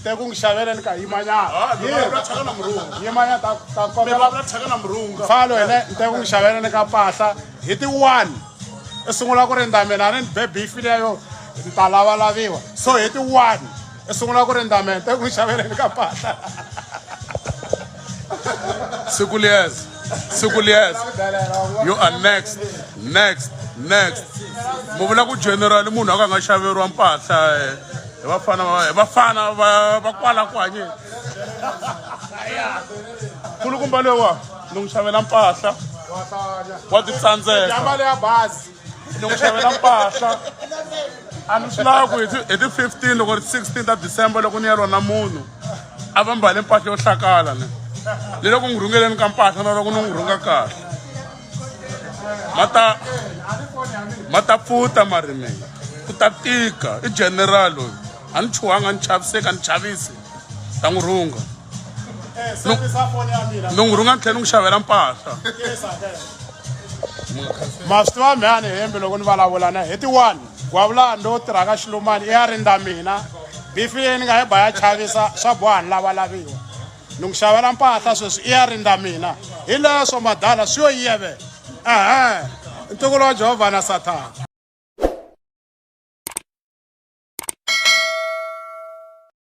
Nteku ngi xavela ni ka yimanyana. Ha, ni vulavula thyaka na murhunga. Yimanyana ta ta Mi kokela vulavula thyaka na murhunga. falo hene nteku ngi xavela ni ka mpahla hi ti one i sungula ku rindza mina a ni ni be beef leyo ni ta lavalaviwa so hi ti one i sungula ku rindza mina nteku ngi xavela ni ka mpahla Sikulias, Sikulias, you are next, next, next. Mu vula ku general munhu a ka nga xaveriwa mpahla eh, hi vafana va hi vafana va va kwala kwanye. Kulukumba lowa ni n'wi xavela mpahla wa titsandzeka. Jamba le ya bazi. ni n'wi xavela mpahla a ni swi lava ku hi ti 15 loko ri 16 ta december loko ni ya lona munhu a va mbale mpahla yo hlakala ni ni loko n'wi rhungeleni ka mpahla na loko ni n'wi rhunga kahle mata mata pfuta marimini ku ta tika i general loyi a ni chuhanga ni chaviseki a ni chavisi ta n'wi rhunga ni n'wi rhunga ni tlhela ni n'wi xavela mpahla ma swi tiva mhani hembe loko ni vulavula na hi ti-one gwavulani lowu tirhaka xilumani i ya rindza mina bifi leyi ni nga yi ba ya chavisa swa boha ni lavalaviwa ni n'wi xavela mpahla sweswi i ya rindza mina hi leswo madala swi yo yeve ehe ntukulu wa jehovha na sathana